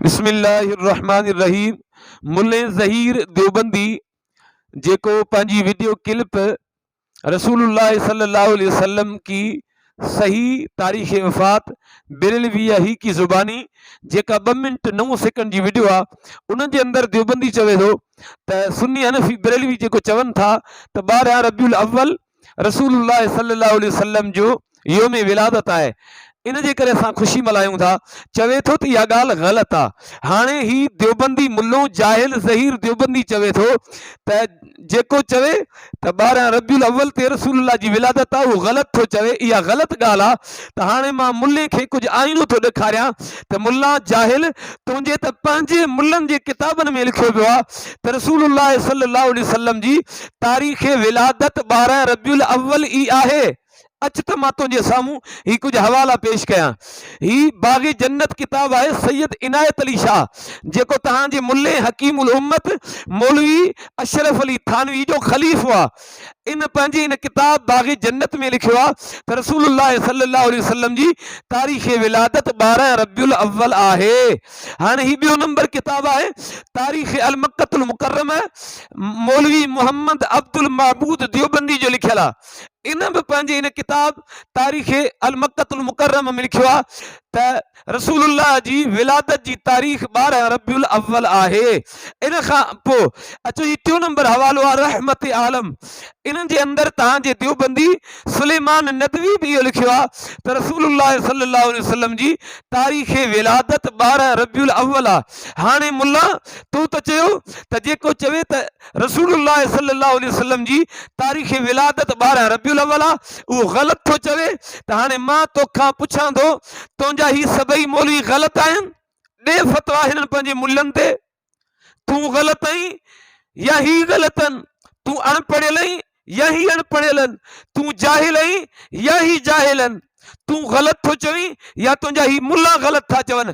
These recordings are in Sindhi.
بسم الله الرحمٰن الرحيم ملين ظهير ديوبندي جيڪو پنهنجي وڊيو ڪلپ رسول الله صلي الله عليه وسلم ڪي صحيح تاريخ وفات بيرلوي يا هي ڪي زباني جيڪا ٻه منٽ نو سيڪنڊ جي وڊيو آهي ان جي اندر ديوبندي چوي ٿو ته سني حنفي بريلوي جيڪو چون ٿا ته ٻارهن ربيع الاول رسول الله صلي الله عليه وسلم جو يوم ولادت آهي ان جي ڪري اسان خوشي ملهايون ٿا چوي ٿو ته اها ڳالهه غلط آ هاڻي هي ديوبندي ملو جاهل زهير ديوبندي چوي ٿو ته جيڪو چوي ته ٻارهن ربيع الاول تي رسول الله جي ولادت آ اهو غلط ٿو چوي اها غلط ڳالهه آ ته هاڻي مان ملي کي ڪجهه آئينو ٿو ڏيکاريان ته ملا جاهل تنهنجي ته پنهنجي ملن جي ڪتابن ۾ لکيو ويو آ ته رسول الله صلي الله عليه وسلم جي تاريخ ولادت ٻارهن ربيع الاول ئي آهي. اچ ته مان تنهنجي سامهون هي ڪجهه حوالا پيش ڪيان. هي باغ جنت ڪتاب آهي سيد عنايت علي شاهه جيڪو توهان جي ملي حڪيم الامت مولوي اشرف علي ٿانوي جو خليف هئا. ان پنهنجي ان ڪتاب باغ جنت ۾ لکيو آهي ته رسول الله صلي الله عليه وسلم جي تاريخ ولادت ٻارهن ربيع الاول آهي. هاڻي هي ٻيو نمبر ڪتاب آهي تاريخ المڪة المڪرمه مولوي محمد عبدالمعبود ديوبندي جو لکيل آ ان به پنهنجي ان ڪتاب تاريخ المڪة المڪرمه ۾ لکيو آ ته رسول الله جي ولادت جي تاريخ ٻارهن ربيع الاول آهي ان کان پو اچو هي ٽيون نمبر حوالو آ رحمت عالم انهن جي اندر تهان جي ديوبندي سليمان ندوي به اهو لکيو آهي ته رسول الله صلي الله عليه وسلم جي تاريخ ولادت ٻارهن ربيع الاول آهي هاڻي ملا تو ته چيو ته جيڪو چوي ته رسول الله صلي الله عليه وسلم جي تاريخ ولادت ٻارهن ربيع الاول آهي اهو غلط ٿو چوي ته هاڻي مان توکان پڇان ٿو تنهنجا هي سڀئي مولوي غلط آهن ڏي فتويٰ هنن پنهنجي ملن تي تون غلط آهين يا هي غلط آهن تون اڻ پڙهيل آهين يا هي اڻ پڙهيل آهن تون جاهل آهين يا هي جاهل آهن تون غلط ٿو چوين يا تنهنجا هي ملا غلط ٿا چون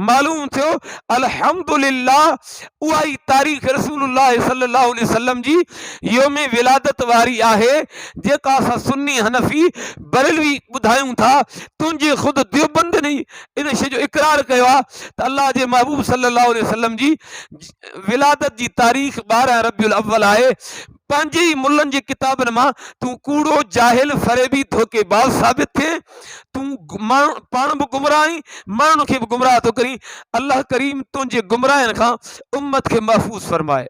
معلوم ٿيو الحمد لله اها ئي تاريخ رسول الله صلي الله عليه وسلم جي يوم ولادت واري آهي جيڪا اسان سني حنفي برلوي ٻڌايون ٿا تنهنجي خود ديوبندني ان شيء جو اقرار ڪيو آهي ته الله جي محبوب صلي الله عليه وسلم جي ولادت جي تاريخ ٻارهن ربيع الاول آهي پنهنجي ئي ملن جي ڪتابن مان تون ڪوڙو جاهل فريبي ڌوڪي باز ثابت ٿئي تون ماڻهو پاڻ به گمراهه آهين ماڻهن کي به گمراهه ٿو ڪرين الله ڪريم تنهنجي گمراهين کان امت کي محفوظ فرمائي